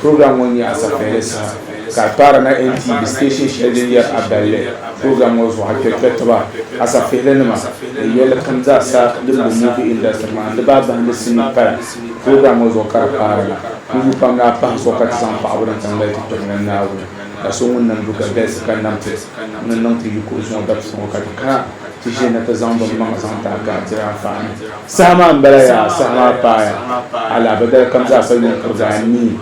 Program ŋɔ nyɛ asapiɛlli saha ka a kpaari na NTV station shɛli din yɛri a balli program ŋɔ zuɣu a kpɛri kpɛritiba, asapihili nima ni yɛlli kam zaa sa din be movie industry maa di baa bahindi sinii paya program ŋɔ zuɣu ka di kpaari na. Puhibu pam ni a pahi zuɣu ka ti zaŋ paɣibu ni tiŋ mali ti tɔbu ni Naawuni la so ŋun nam du ka galisi ka nam ti ni niŋ ti yi kuɣisi ŋɔ dabisi ŋɔ ka ti kana ti ʒiya na ti zaŋ bɛ maŋa zaŋ ti a gahi diri anfaani. Saha maa m-bala yaa, saha maa paaya alaabadali kam zaa sa yuŋ kuri daa nii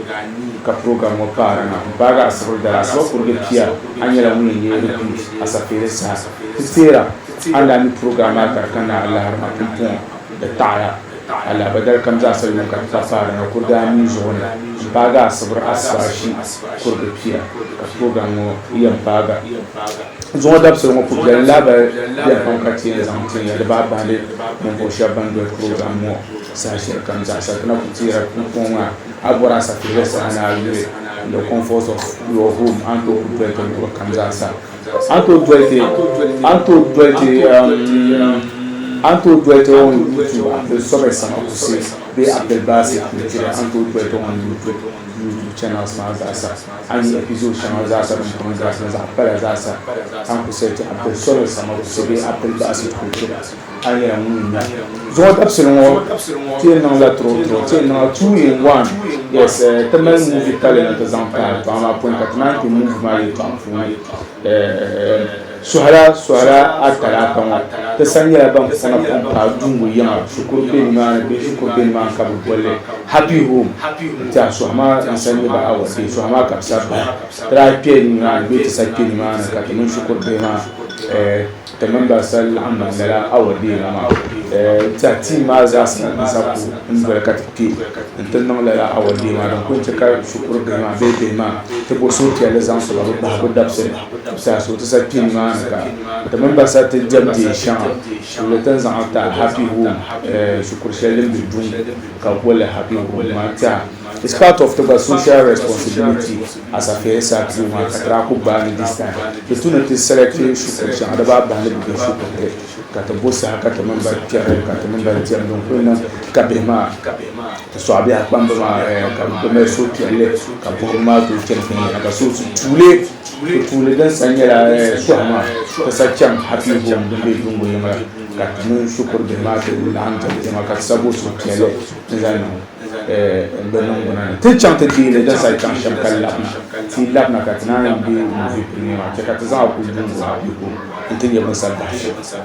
ka program ŋɔ paara na n paagi Asibri dali Asiba kurige pia a nyɛla ŋun yɛn ye repeat Asafeere saha ti teera a ni daa mi program maa ka di ka na alaharima pumpɔŋɔ di taɣiya alaabadali kam zaa sa yuŋ ka ti pa paara na kuri daa nii zuɣu ni n paagi Asibri Asiba ashi kurige pia ka program ŋɔ yɛn paagi Zuŋɔ dabisili ŋɔ pubi biɛli lahabali biɛni pam ka ti yɛn zaŋ tin ya di baa baŋdi ninvuɣu shɛba ban doli program ŋɔ saha shɛli kam zaa. Sapina ku teera pumpɔŋɔ maa a bɔri a sapiliga saha ni a yuli in the comforts of your home a ni tooi ku doli ti luɣili kam zaa sa. A ni tooi doli ti a ni tooi doli ti um a ni tooi doli ti on YouTube Abdul Sobeh Samakusi bee Abdul Basit Nijiri a ni tooi doli ti on YouTube YouTube channels maa zaa sa. A yi yihi zo shɛŋa zaasa din kom galisi ni zaɣ pala zaasa, ka n ku soli ti Abdul Solih Samagusi bee Abdul Basit Kuchila, a ni yɛn ŋun nya Zuŋɔ dabisili ŋɔ, ti yɛn niŋla turo-turo, ti yɛn niŋla two-in-one, yes, ti mali movie pali ni ti zaŋ pahi kpaŋa maa puuni, ka ti naan kpe movie maa yɛltɔɣa puuni. Suhira suhira atalaata ŋɔ ti sa nyɛla ban puŋ puŋ paai Dungu yiŋa shikuru be nimaani bee shikuru be nimaani ka bɛ bolli Happy Home n-tɛha suhi maa n-sa nyɛ ba awa bee suhi maa ka bɛ sa bahi ti daa kpe nimaani bee ti sa kpe nimaani ka ti mini shikuru bihi maa ti mini ba sa laɣim bahi lala awa bee la maa n-tɛha team maa zaa sa n-sa ku n-doli ka ti kpe n-ti niŋ lala awa bee maa din ku yɛn che ka shikuru bihi maa bee bihi maa ti bo suhupiɛlli zaŋ so ka bɛ bahigu dabisili. Tibisa so ti sa kpi nimaani ka ti mini ba sa ti diɛm dee shɛŋa tuuli ti ni zaŋ li taai Happy Home shikuru shɛli din be Dum ka bɛ boli li Happy Home maa tɛha. It's part of ti gba social responsibility as affairs sa ti yu maa ka ti daa kuli gbaai ni this time di tu ni ti select shikuru shɛŋa di baa bahi ni bɛ be shikuru ti. Ka ti bo saha ka ti mini ba kpɛri ka ti mini ba diɛm din kuli niŋ ka bihi maa ti sɔɣi bihi a kpamba maa ka bi kuli mali suhupiɛlli ka buɣibu maa tooi chani viɛnyɛla ka so ti tuuli ti tuuli din sa nyɛla sɔhi maa ti sa chaŋ happy home din be Dungo yiŋa ka ti mini shikuru bihi maa ti laɣim diɛm diɛma ka ti sa bo suhupiɛlli ni zali niŋ di niŋgbuna ni. Ti ni chaŋ ti deei li din saha chaŋ shɛm ka labi na, ti yi labi na ka ti naan yi be Muvi Piringa maa chɛ ka ti zaŋ a kuli duŋ gbaai a biɛhigu nti nya bini sani bahi shɛm.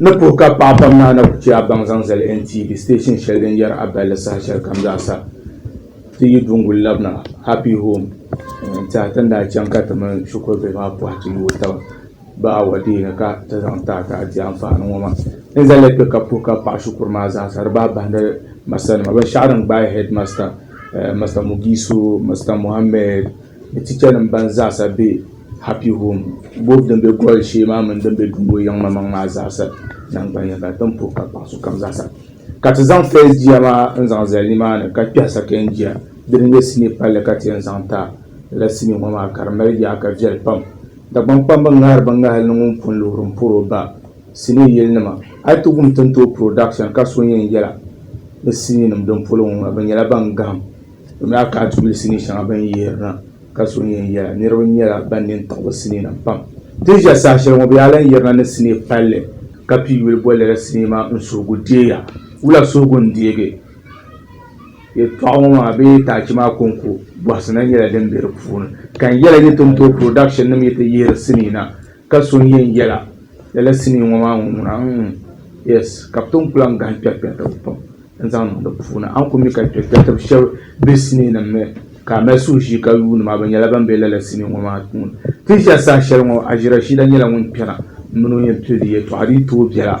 Ni puhi ka paɣa pam naa na ku chɛ a baŋ zaŋ zali NTV station shɛli din yɛri a balli saha shɛli kam zaa sa ti yi duŋguli labina Happy Home n-tiɛha ti ni daa chaŋ ka ti mini shikuru bihi maa pɔhi ti yooi taba. Bɛ awɔdeeni ka ti zaŋ ti a ti a di anfaani ŋɔ maa. N zalila kpe ka puhi ka paɣi shikuru maa zaa sa di bahi bahindi masanima. Binshɛɣu din gbaai hɛdimasta, Masta Mugisu, Masta Mohammed ni tichanim ban zaa sa be Happy Home boobu din be Gɔli shee maa mini din be Dumbo yiŋmamaŋ maa zaa sa naŋgbanya ka tin puhi ka paɣi sokam zaa sa ka ti zaŋ first jia maa n zaŋ zali nimaani ka kpɛhi second jia dini n-nyɛ sinii palli ka ti yɛn zaŋ ti a. Lala sinii ŋɔ maa ka di mali yaaka viɛli pam. Dagbaŋkpamba ŋahiri ba ŋahili ni ŋun pun luhiri m-pɔr o ba sinii yɛlinima. A yi ti wum Tintooi Production ka so yɛn yɛla bɛ siniinim din polo ŋɔ maa, bɛ nyɛla ban gahim. Bɛ mi daa ka a ti yuli sinii shɛŋa bɛ ni yihiri na ka so yɛn yɛla. Niriba nyɛla ban nini tiɣi bɛ siniinima pam. Ti ni ʒiya saha shɛli ŋɔ, bɛ yaa lan yirina ni sinii palli ka pii yuli boli lala sinii maa N suhigu deeya. Wula suhigu n-deegi? Yɛltɔɣa ŋɔ maa bee taachi maa kɔŋko bɔhisi na nyɛla din be di puuni, ka n yɛla yi ti ni tooi production nim yi ti yihiri sinii na ka so n yɛn yɛla lala sinii ŋɔ maa ŋuna mm yes ka bi tom ku lahi gahim kpɛrikpɛritiba pam n zaŋ niŋ di puuni a ni ku mi ka kpɛrikpɛritiba shɛba be sinii nim ni ka a mali suhushii ka yuuni ma bi nyɛla ban be lala sinii ŋɔ maa puuni ti ʒiya saha shɛli ŋɔ Aji Rashida nyɛla ŋun kpɛna m mini o yɛn pili di yɛltɔɣa di yi tooi bela.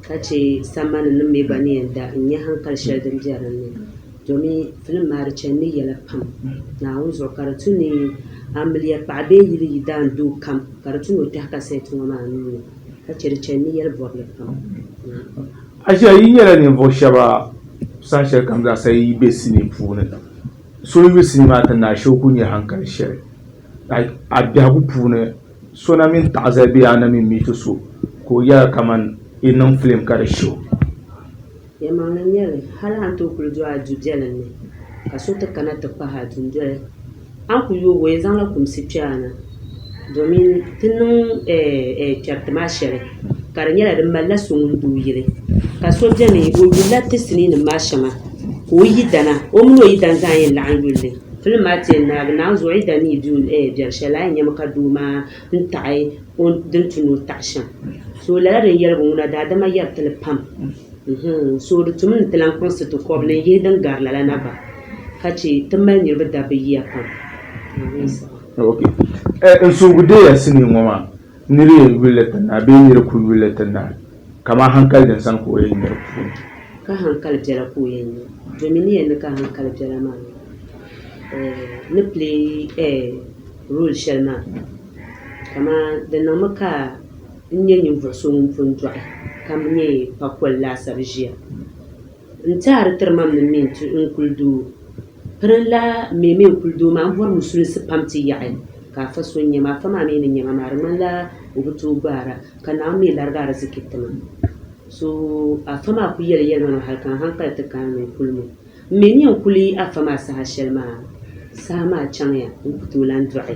ka chɛ sambani nim mi gba ni yɛn da n-nya haŋkali shɛli din be din ni, domi filim maa di chanimi yɛla pam Naawuni zuɣu ka di tu ni amiliya paɣa bee yili yi daan doo kam ka di tu ni o tɛhi kasɛt ŋɔ maa nuu ni, ka chɛ di chanimi yɛli bɔbili pam. Achiya! Yi nyɛla ninvuɣ shɛba saha shɛli kam zaa sa yi yi be sinii puuni, so n-yuli sinii maa ti naai shee o ku nya haŋkali shɛli a biɛhigu puuni. So na mini taɣizali bee a na mi miiti so ka o yɛra kaman i niŋ filim ka di shi o. Yɛlimaŋli n-nyɛ li, hal a ni tooi kul do a du biɛlim ni ka so ti kana ti kpahi a dundoli, a ni ku yoog o yɛn zaŋla kumsi kpe a na domin ti niŋ chɛriti maa shɛli ka di nyɛla di malila so ŋun doo yili. Ka so beni, o yulila ti siniinim maa shɛŋa ka o yidana, o min o yidani zaa yɛn laɣim yul li. Fili maa tɛli naagi naai zuɣu yi da ni yi di o eh biɛri shɛli a yi nyami ka doo maa ni taɣi o din tu ni o taɣi shɛm so lala din yɛligu ŋuna daadama yɛri ti li pam mm-hmm so di tumi ni ti lan kpuɣisi ti kɔbili n-yihi din gari lala na bahi ka che ti mali niriba dabbi yiya pam Amin saha. Okay. Eh, n suhigu deeya sinii ŋɔ maa. Nir yɛn yuli li ti naai bee nir ku yuli li ti naai, kaman haŋkali din sani ka o yɛn nyari puuni. Ka haŋkali biɛla ka o yɛn nya, domin ni yɛn ni ka haŋkali biɛla maa ni play role shɛli maa. Kaman di niŋmi ka n nya ninvuɣ so ŋun pun dɔɣi, ka nyɛ pakol laasabu ʒia. N-ti a di tiri ma mini mi n-ti n kuli doo. Pirin la mi mi n-kuli doo maa m-bɔri musulinsi pam ti yaɣi ka Afa so n-nya ma. Afa maa mi ni nya ma maa di ŋmani la o bi tooi gbaar a ka Naawuni mi larigi ariziki ti ma. So Afa maa kuli yɛli yɛlima maa hali ka n hankali ti kaai mi kuli mi. M mi ni yɛn kuli Afa maa saha shɛli maa, saha maa chaŋ ya n ku tooi lan dɔɣi.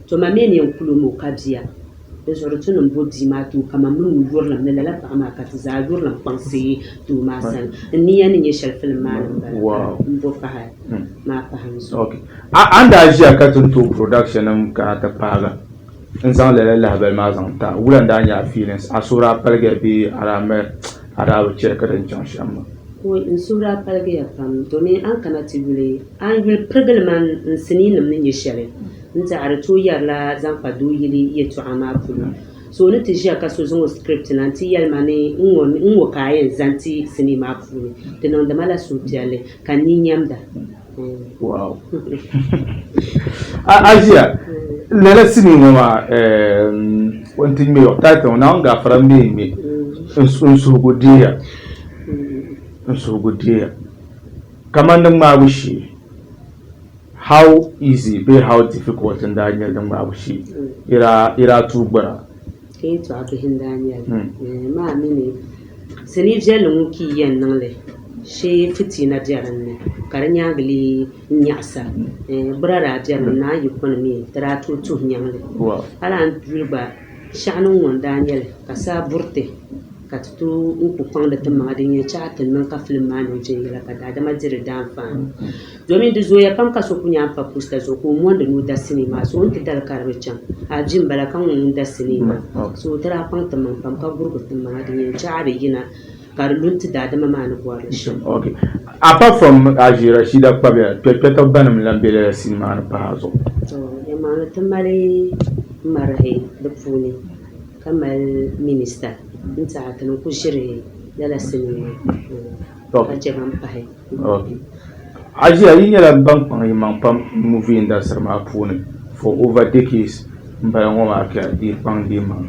To ma mi ni yɛn kul o ni o ka bia, di zuɣu di tunim bo bia maa tooi kaman bɛ nuu yurilim ni lala paɣ maa ka ti zaa yurilim kpaŋsi doo maa sani. N ni yɛn ni nya shɛli filim maa ni m-bala m bo pahi maa pahi n zuɣu. A ni daa ʒiya ka ti ni tooi productionnim kana ti paagi n zaŋ lala lahibali maa zaŋ ti a, wula n-daa nyɛ a feelings? A suhu daa paligi ya bee a daa mi a daa bi chɛ ka di ni chaŋ shɛm maa? Woy, n suhu daa paligi ya pam domin a ni kana ti yuli a ni yuli pirigili man n siniinim ni nya shɛli N tehi di tooi yɛri la zaŋ kpa doo yili yɛltɔɣa maa puuni. So ni ti ʒiya ka so zaŋ o script na nti yɛli ma ni n ŋɔ n ŋɔ ka a yɛn zani ti sinii maa puuni, di niŋdi ma la suhupiɛlli ka n ni nyɛmda. Wow! A ʒiya lala sinii ŋɔ maa o ni ti ŋme o title ŋɔ Naawuni Gaafara m-be n ŋme n suhigu deeya n suhigu deeya kamani di ŋmaabu shee How easy bee how difficult n daa nyɛli di ŋmaabu shee? Yi daa tuui gbura? Ka yi tɔɣi bihi n daa nyɛli. Maa mi ni sinii viɛlli ŋun pii yɛn niŋ li shee fitiina be din ni ka di nyaangi lee nyaɣisa. Gbura daa be din ni a yi kuni mi di daa tooi tuhi nyaŋ li. A lahi duli gba shɛɣu niŋ ŋun daa nyɛli ka saa buriti. ka ti tooi n-ku kpaŋdi ti maŋa din yɛn chahi ti ni niŋ ka filim maa niŋ viɛnyɛla ka daadama di di daanfaani domin di zooya pam ka so ku nyaai m-pa pusta zuɣu ka o mondi ni o da sinii maa so o ni ti dali ka di bi chaŋ a di m-bala ka ŋun ŋun da sinii maa so ti daa kpaŋ timaŋ pam ka gurigi ti maŋa din yɛn chahi di yina ka di lu n-ti daadama maa ni bɔri li shɛm. Apart from Haji Rashida Kpabia, kpɛkpɛtɔbu banim n-lan be lala sini maa ni pahi a zuɣu? Tɔ, yɛlimaŋli ti mali marahi di puuni. ka mali minista din tiɛhi ti niŋ ku ʒiri lala sinii ŋɔ ka chɛ ban pahi. Ajiya, yi nyɛla ban kpaŋ yi maŋ pam movie industry maa puuni for over decades m bala ŋɔ maa ka di yi kpaŋ di maŋ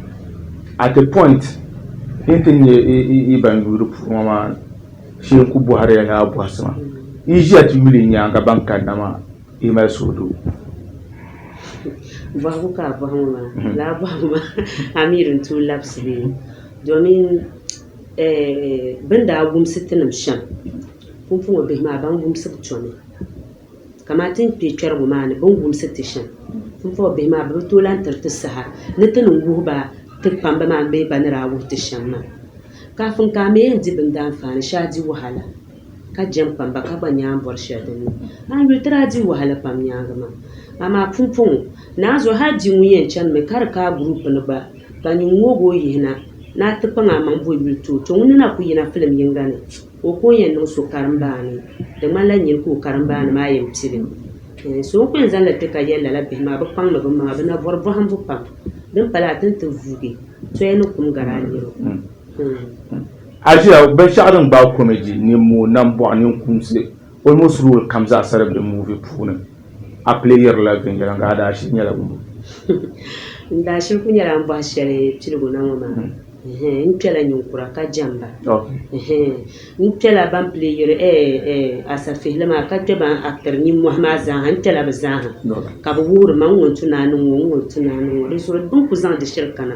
at a point din ti nyɛ yi ban yuui di puuni ŋɔ maa shee n ku bɔhiri ya ni a bɔhisi ma yi ʒiya ti yuli yi nyaaŋa ban kanna maa. Yi mali suhudu. Bɔhigu ka a bɔhi ŋɔ maa, lala bɔhigu maa Amir n-tooi labisi bɛ ni domin bɛ ni daa wumsi ti nim shɛm pumpɔŋɔ bihi maa ban wumsi bi tomi kaman ti ni kpe kpɛrigu maa ni bɛ ni wumsi ti shɛm pumpɔŋɔ bihi maa bɛ bi tooi lahi tiri ti saha ni ti ni wuhi ba ti kpamba maa bee ba ni daa wuhi ti shɛm maa. Kafin ka a mi yɛn di bindaanfaani, shee a di wahala. ka jɛm kpam ba ka gba nya n bɔri shɛli din niŋ a ni yuli ti daa di wahala pam nyaaŋa maa. Amaa pumpɔŋɔ, naanzuhi hal di ŋun yɛn chanimi ka di ka a guruupu ni gba, ka nyin ŋoogi o yihi na ni a ti kpaŋ amaŋ bo yuli ti o to ŋun ni na ku yina filim yiŋga ni ka o ku o yɛn niŋ so karimbaani. Di ŋmanila nyini ka o karimbaani maa yɛn pili o. Ɛɛn, so n ku yɛn zaŋ li ti ka yɛli lala bihi maa bɛ kpaŋmi bɛ maŋa, bɛ na bɔri bɔhimbu pam. Din pala a ti ni ti vuugi, soya ni kum gari a nir o. Ɛɛn. Asia binshɛɣu din gbaai komedi ni mooi nambɔɣu ninkumsi almost role kam zaa sa di be movie puuni. A playirila viɛnyɛliŋga a daashili nyɛla ŋun? N daashili kuli nyɛla n bɔhi shɛli piligu na ŋɔ maa. Ɛhɛn, n kpɛla ninkura ka jɛmba. Ɛhɛn, n kpɛla ban playiri eh-eh asafihili maa ka kpɛ ban actiri nimmɔhi maa zaa ha. N kpɛla bɛ zaa ha ka bɛ wuhiri ma n ŋun tu ni a niŋ ŋɔ, n ŋun tu ni a niŋ ŋɔ. Di zuɣu bɛ ni kuli zaŋ di shiri kana.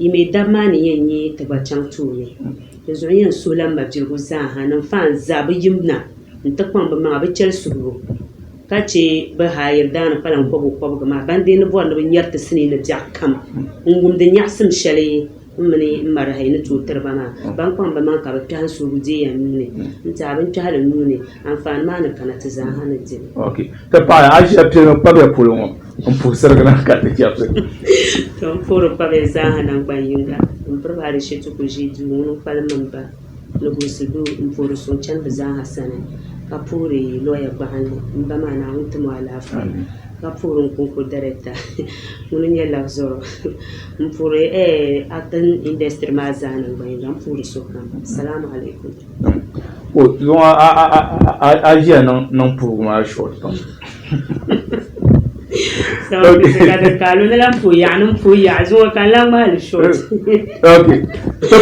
Yi mi dab maa ni yɛn yi ti gba chaŋ tooni, dinzuɣu n yɛn suhila m mabiligu zaaha ni m faan zaa bɛ yim na nti kpaŋ bɛ maŋa bɛ chɛli suhibu, ka chɛ bɛ haayiri daa ni kpalan kɔbigu kɔbigu maa ban deei ni bɔri ni bɛ nyari ti sinii ni biɛɣu kam n-wumdi nyaɣisim shɛli m mini m marahi ni tooi tiri ba maa. Ban kpaŋ bɛ maŋa ka bɛ kpɛhi n suhibu deei ya nuu ni, n-ti a binkpɛhili nuu ni. Anfaani maa ni kana ti zaaha ni di li. Ok. Ti paɣi a ʒiya pili mi kpabiya polo ŋɔ n puhi sirigi na ka ti chɛbisi. To n puhiri kpabiya zaaha naŋgban yiŋga m piri ba di shɛti ku ʒi duu ŋuni kpalim mini ba ni gulisi duu n puhiri so n chani bi zaaha sani ka puhiri lɔya gbahinli m ba maa Naawuni ti mo alaafee ka puhiri n kunko dariɛkta ŋuni nyɛ labi zɔrɔ m puhiri actin industry maa zaa naŋgban yiŋga m puhiri so kam Salaam Alaikum. Luŋa a ʒiya niŋ puugu maa short pam.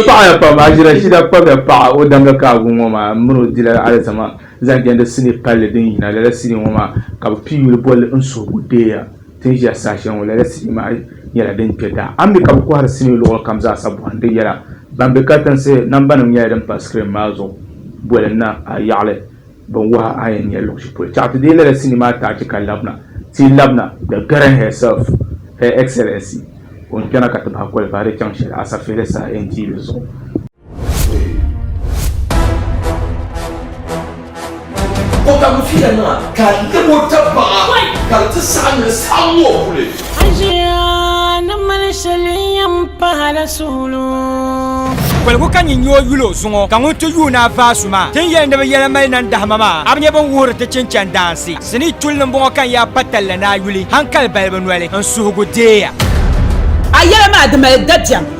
paɣaya pam a ʒira shida kpabya paɣa o danga ka agu ŋɔ maa mini o dila alizama zaŋ jɛndi sini palli din yina lala sini ŋɔ maa ka bi pi yuli bolli n suhigu deeya Ti ni ʒiya saha shɛli ŋɔ, lala sinii maa nyɛla din kpe daa. A mi ka bɛ kɔhiri sinii luɣili kam zaa sa bɔhindi yɛla. Ban be katiŋsi, nambanima nyɛla din pa sikirin maa zuɣu boli na a yaɣili binwahi a yɛn nya luɣishɛli polo. Chɛɣu ti deei lala sinii maa taachi ka labina. Ti labina The Karen herself, Her Excellency, o ni kpɛna ka ti bahi kɔlibahi di chaŋ shɛli Asafeehe saha NTA zuɣu. O ka mu fiya nima ka lebo tabaɣa ka di ti saɣa ni saɣa ŋɔ kuli. Ajiya ni mali shɛli yɛn pahala suɣulo. Koligu ka nyin nyoo yuli o zuŋɔ, ka ŋun ti yuun a vaasu maa tin yɛli ni bɛ yɛla mali nan dahima maa, a bi nya bɛn wuhiri ti chinchan daansi. Sinii chuli ni m-bɔŋɔ ka n yaa pa talli ni a yuli, hankali balibu noli, n suhigu deeya. A yɛla maa di mali dabiɛm.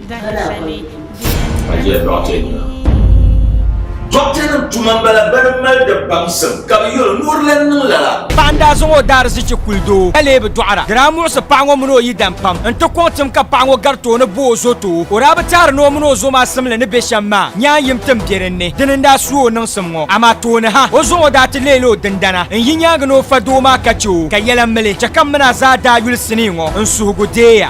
Ka jɛli dɔɣite nima. Dɔɣitenima tuma m-bala bɛ ni mali di baŋsim ka bɛ yuli ni o di lan niŋ lala. Paɣa n-daa zaŋ o daarizichi kuli doo ka lee bi dɔɣira. Di daa muɣisi paɣa ŋɔ mini o yidam pam nti kɔŋ tim ka paɣa ŋɔ gari tooni bo o zo too. O daa bi teeri ni o mini o zo maa simli ni be shɛm maa, nyaan yim tim be dinni. Dini n-daa su o niŋsim ŋɔ. Amaa tooni ha, o zuɣu daa ti leela o dindana n-yi nyaaŋa ni o fa doo maa ka chɛ o ka yɛla mili. Chɛ ka m mini a zaa daa yuli sinii ŋɔ n-suhigu deeya.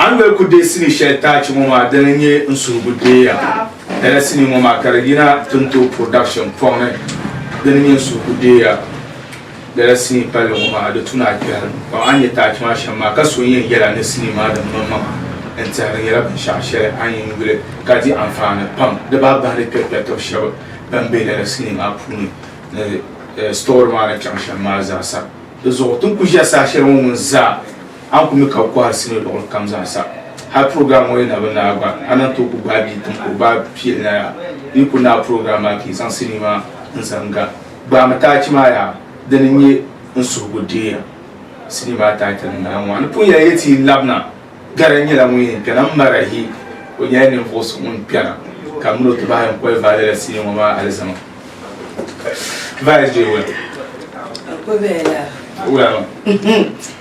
A ni mali ku deei sinii shɛli taachi ŋɔ maa dini n-nyɛ n suhigu deeya lala sinii ŋɔ maa ka di yina Tinto Production pɔŋni dini n-nyɛ n suhigu deeya lala sinii palli ŋɔ maa di tu ni a kpɛhiri pam a ni nyɛ taachi maa shɛm maa ka so n-yɛn yɛli a ni sinii maa din maŋ maŋa n-tɛhiri nyɛla binshɛɣu shɛli a ni yɛn yuli ka di anfaani pam di baa bahindi kpɛrikpɛritiba shɛba ban be lala sinii maa puuni ni sitɔri maa ni chaŋ shɛm maa zaa sa di zuɣu ti ni ku ʒiya saha shɛli ŋɔ ŋun zaa A ku mi ka bɛ kɔhiri sinii luɣili kam zaa sa. Hal program ŋɔ yi na bi naai gba, a lan tooi ku gbaai bia tim ka o ba pili na yaa. Di yi ku naai program maa ka yi zaŋ sinii maa n-zaŋ ga, gbaami taachi maa yaa. Dini n-nyɛ n suhigu deeya. Sinii maa title n-nyɛla ŋɔ, N ni pun yɛli ya ti yi labina, Gana nyɛla ŋun yɛn kpɛna m-mari ahi. O nyɛla ninvuɣ so ŋun kpɛna ka min o ti bahi n-kɔhi Vale la sinii ŋɔ maa alizama. Vale is doing well. Well, ma.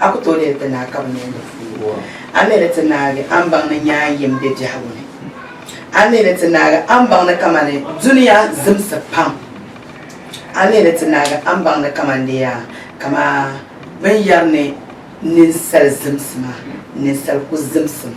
A ku tooi leei ti naa ka bi ni yɛn di fuugu? A mi ni ti naagi a ni baŋ ni nyaa yim be biɛhigu ni? A mi ni ti naagi a ni baŋ ni kamani dunia zimsi pam? A mi ni ti naagi a ni baŋ ni kamani di yaa kamaa bɛ ni yɛri ni ninsal zimsi maa, ninsal ku zimsimi.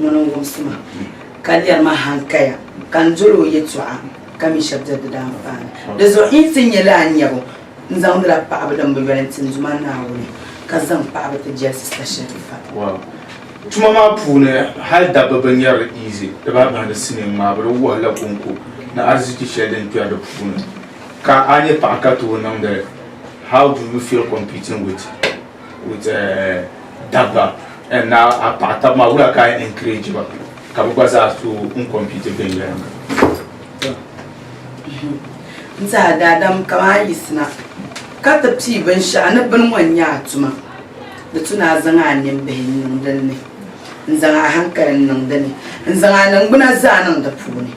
Ŋuni n-wumsi ma, ka lɛri ma hankaya, ka n doli o yɛtɔɣa, ka mi shɛb diri di daanfaani. Di zuɣu n yi ti nya li a nyabu, n zaŋdila paɣibu din bi yoli n-ti n Duuma Naawuni, ka zaŋ paɣibu ti jɛlisi sa shɛlifa. Wow. Tuma maa puuni hal dabba bi nyari li easy, di baa bahindi sinii ŋmaa bi di wuhi la kuŋko ni arziki shɛli din kpɛri di puuni. Ka a nyɛ paɣa ka tooi niŋdi li, how do you feel competing with. with eh, dabba and na a paɣa tab maa wula ka encourage ba ka bi gba zaa so n compete viɛnyɛlinga n tiɛha daadam kaman a yiɣisina ka ti pii binshɛɣu ni bini ŋɔ n-nyɛ a tuma di tu ni a zaŋ a nimbihi n-niŋ din ni n-zaŋ a hankali n-niŋ di ni n-zaŋ a niŋgbuna zaa niŋ di puuni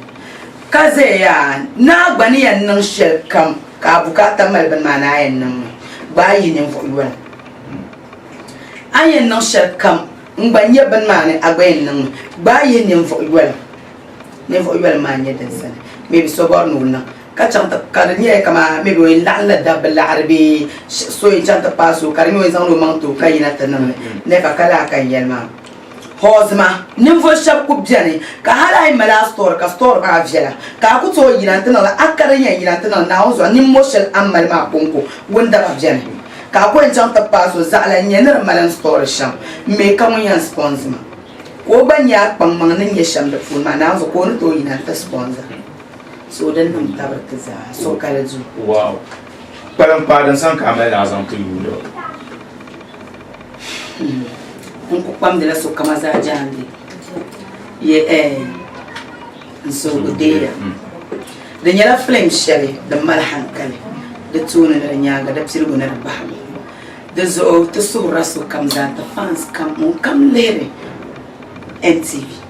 Ka zaya yaa naa gba ni yɛn niŋ shɛli kam ka a bukaata mali bini maa ni a yɛn niŋ li, gbaai yi ninvuɣ yoli. A ni yɛn niŋ shɛli kam n gba nya bini maa ni a gba yɛn niŋ li, gbaai yi ninvuɣ yoli. Ninvuɣ yoli maa n-nyɛ din sani maybe so bɔri ni o niŋ ka chaŋ ti, ka di nyɛla kaman maybe o yɛn laɣinla dabba laɣiri bee so yɛn chaŋ ti paai so ka di nya o yɛn zaŋla o maŋ ti o ka yina ti niŋ li, n-nya ka ka laa ka n yɛli maa. Hɔzima, ninvuɣ shɛb ku beni ka hal a yi mali a sitɔri ka sitɔri maa viɛla, ka a ku tooi yina nti niŋ li, a kari nya yina nti niŋ Naawuni zuɣu nimmɔh shɛli a ni mali maa kɔŋko wundaba beni. Ka a ku yɛn chaŋ ti paai so zaɣila n-nyɛ ni di mali n sitɔri shɛm m-me ka ŋun yɛn sipɔnzi ma ka o gba nya a kpaŋmaŋ ni nya shɛm di puuni maa Naawuni zuɣu ka o ni tooi yina nti sipɔnzi so din niŋ tabiri ti zaa, sokali duu. kpalim paai din sani ka a mali ni a zaŋ ti yuuni ba. N ku kpamdila sokama zaa jaande ye eh, n suhigu deeya. Mm. Di nyɛla filim shɛli din mali hankali, di tooni ni di nyaaŋa di piligu ni di bahigu. Di zuɣu ti suhirila sokam zaa nti fans kam ŋun kam lihiri NTV.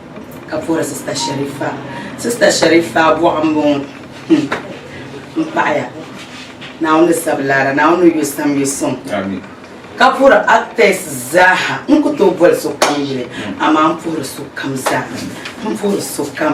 ka bɔri sista sharifa sista sharifa bɔɣu n bɔŋɔ hmm. n paɣaya naawuni sabi laara naawuni yo sam yo sɔŋ ka puhiri actors zaaha n ku tooi boli sokam yili amaa n puhiri sokam zaa n puhiri sokam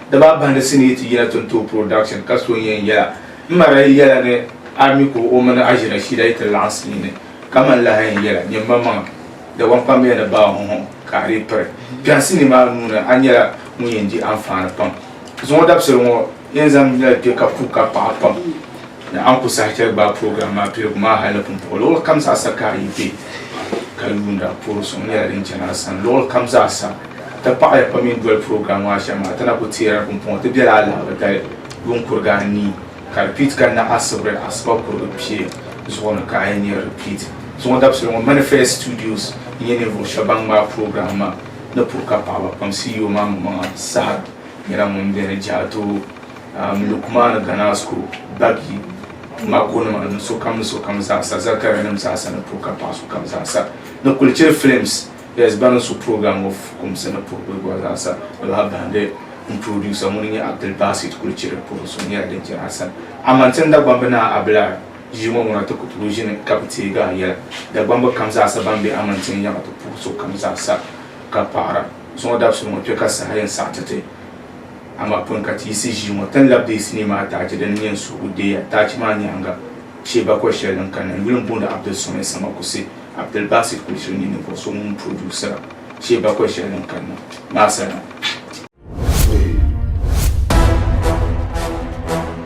Dabaa bahindi sini yi ti yina Tonto Production ka so n-yɛn yɛla, M ma daa yi yɛla ni a mi ka o mini Aji Rashida yi ti laɣinsi yini, ka man lahi yɛn yɛla, Nyini ma maŋa, Dagbaŋ kpambiya ni baa hɔhɔŋ ka a dii piri. Biɛhiŋ sinii maa nuu ni, a nyɛla ŋun yɛn di anfaani pam. Zuŋɔ dabisili ŋɔ yɛn zaŋ mila kpe ka puhi ka paɣi pam. Ni a ni ku saha chɛli gbaai program maa piligu maa hal ni pumpɔɣu luɣili kam zaasa ka a yi be ka yuuni a puuri suŋ nyɛla din chani a sani luɣili kam zaasa. A ti paɣiya pam yi ni doli program maa shɛm maa, a ti na ku teeri pumpɔŋɔ ti bela alahiba dali yuun kurigi anii ka di piit ka naɣisibiri asiba kurigi pia zuɣu ni ka a yi nya repeat. Zuŋɔ dabisili ŋɔ Manifest Studios n-nyɛ ninvuɣ shɛba ban ŋmaai program maa ni puri ka paɣiba kpaŋsi yi o maŋmaŋa saha nyɛla ŋun beni Jaato. um, Lukmaana Ganasco, Bagi, Makonima ni sokam ni sokam zaasa, Zakarianim zaasa ni puri ka paɣa sokam zaasa ni kuli chɛ films yes bani su program ŋɔ fukumsi ni puri kuli gɔri zaasa ni baa bahindi n producer ŋuni nyɛ Abdul Basit kuli chɛ di puri so nyɛla din chɛ Hassan Aman tin Dagbambi naa Abilar ʒii ŋɔ ŋuna ti ku tooi ʒini ka bi teegi a yɛla Dagbambi kam zaasa ban be Aman tin yaŋa ti puhi sokam zaasa ka paɣira zuŋɔ dabisili ŋɔ kpe ka saha yɛn saɣiti ti Amaa pun ka ti yiɣisi ʒii ŋɔ, tin lab deei sinii maa taachi din nyɛ n suhigu deeya. Taachi maa nyaaŋa, chɛ bakɔi shɛli din kanna yuli m-booni Abdul Samad Samakusi, Abdul Basit Kulichiri nyɛ ninvuɣ so ŋun puroduusira chɛ bakɔi shɛli din kanna maa sani.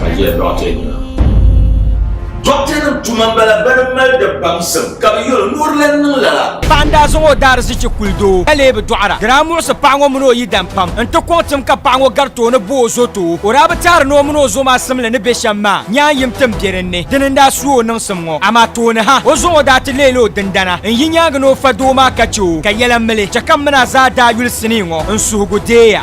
Ka jɛ dɔɣite nima. Dɔɣitenima tuma m-bala bɛ ni mali di baŋsim ka bɛ yɛl o ni o di lan niŋ lala. Paɣa n-daa zaŋ o daarizichi kuli doo ka lee bi dɔɣira. Di daa muɣisi paɣa ŋɔ mini o yidam pam n-ti kɔŋ tim ka paɣa ŋɔ gari tooni bo o zo ti o. O daa bi teeri ni o mini o zo maa simli ni be shɛm maa nyaan yim tim be dinni. Dini n-daa su o niŋsim ŋɔ. Amaa tooni ha, o zuɣu daa ti leela o dindana n-yi nyaaŋa ni o fa doo maa ka chɛ o ka yɛla mili. Chɛ ka m mini a zaa daa yuli sinii ŋɔ n-suhigu deeya.